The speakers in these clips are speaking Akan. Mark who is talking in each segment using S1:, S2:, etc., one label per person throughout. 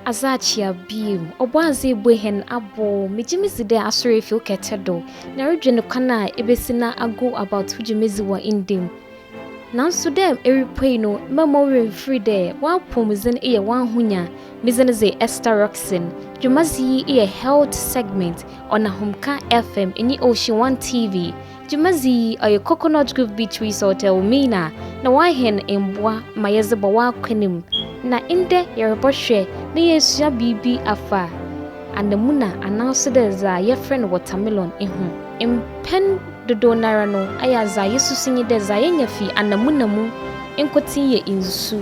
S1: Adze akyea bio, Ɔbɔadze ebue hɛn abow. Megye me dzi dɛ Asɔr efi wo kɛtɛ do na erodwen kwan a ibesi na ago about wo dwumadzi wɔ ndɛ mu. Naaso dɛ erupuei no, mma mo werɛ mmfir dɛ w'apɔwmudzen yɛ w'ahonya. Me dzin dze Esther Rockson. Dwumadzi yi yɛ Health Segment ɔnam Homka FM nye Ocean One TV. Dwumadzi yi ɔyɛ Coconut Grove Beateries Hotel Mena na wɔahɛn mboa ma yɛdze bɔ w'akwan mu. Na ndɛ yɛrobɔhwɛ na yeesua biribi afa anamuna anaaso dɛ dza yɛfrɛ no watermelon ho. Mpɛn dodow noara no, ayɛ adza yesusu nye dɛ dza yenya fi anamuna mu nkotsee yɛ nsu.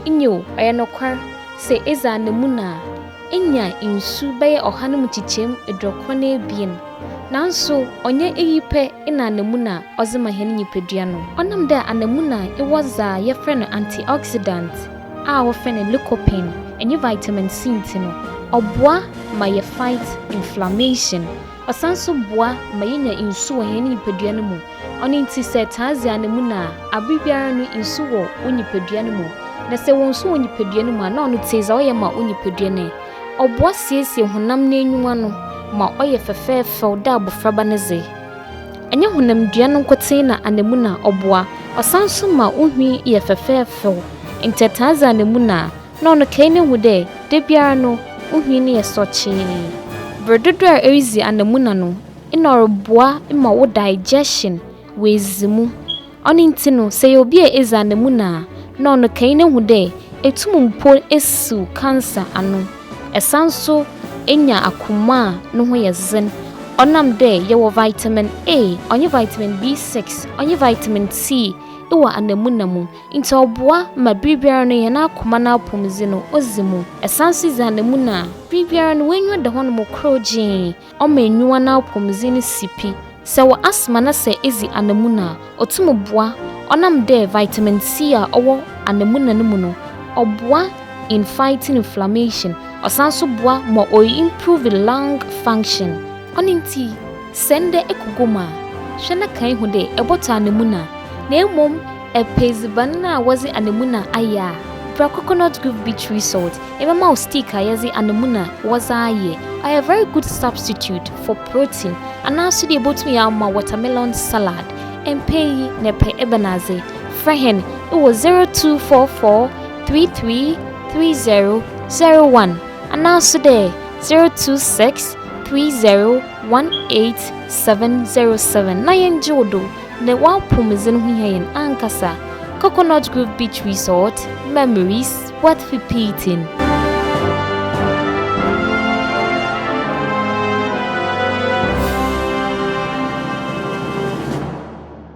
S1: Nyew, ɔyɛ nokwar, sɛ edzi anamuna a, enya nsu bɛyɛ ɔha no mu nkyekyɛmu eduokron na ebien. Naaso, ɔnnyɛ iyi pɛ na anamuna ɔdze ma hɛn nyimpadua no. Ɔnam dɛ anamuna wɔ dza yɛfrɛ no antioxidant a wɔfrɛ no lycopene nye vitamin C ntsi no, ɔboa ma yɛ fight inflammation. Ɔsan nso boa ma yenya nsu wɔ hɛn nyimpadua no mu. Ɔno ntsi sɛ taa dzi anamuna a, aber biara no nsu wɔ wo nyimpadua no mu. Na sɛ ewɔ nsu wɔ nyimpadua no mu a, nna ɔno tse dza ɔyɛ ma wo nyimpadua no ɛ. Ɔboa siesie honam n'enyiwa no ma ɔyɛ fɛfɛɛfɛw dɛ abofraba ne dze. Nnyɛ honamdua no nkotsee na anamuna ɔboa, ɔsan nso ma wo nhwi yɛ fɛfɛɛfɛw. Ntsi ɛtaa dzi anamuna a, na ɔno kɛe no hu dɛ da biara no ohwii no yɛ sɔkyee. Ber dodow a eridzi anamuna no, nna ɔroboa ma wo digestion oedzi mu. Ɔno ntsi no, sɛ eyɛ obi a edzi anamuna a, nna ɔno kɛe no hu dɛ etum mpo esiw cancer ano. Esan so enya akoma a no ho yɛ dzen ɔnam dɛ yɛwɔ vitamin A, ɔnye vitamin B6, ɔnye vitamin C wɔ anamuna mu. Ntsi ɔboa ma ber biara no hɛn akoma n'apɔwmudzen no odzi mu. San so dzi anamuna a, ber biara no w'enyiwa da hɔ no mu krɔw gyee. Ɔma enyiwa n'apɔwmudzen no si pi. Sɛ ewɔ asthma na sɛ edzi anamuna a, otum boa ɔnam dɛ vitamin C a ɔwɔ anamuna no mu no, ɔboa in fighting inflammation. Ɔsan so boa ma o-improve lung function. Ɔno ntsi, sɛ ndɛ ekɔ gua mu a, hwɛ na kae hu dɛ ebɔtɔ anamuna na mbom. Epɛ edziban no a wɔdze anamuna ayɛ a, bra coconut grove beach resort, yɛbɛma wo steak a yɛdze anamuna wɔdze ayɛ. Ɔyɛ very good substitute for protein. Anaa so deɛ ibotum yɛ ama wo watermelon salad. Mpɛ iyi na epɛ ebɛnadze? Frɛ hɛn wɔ zero two four four three three three zero zero one anaa so dɛ zero two six three zero one eight seven zero seven na yɛngye wo do. Na w'apɔwmudzen ho hia hɛn ankasa. Coconut Grove Beach Resort, Memories Worth Repeating.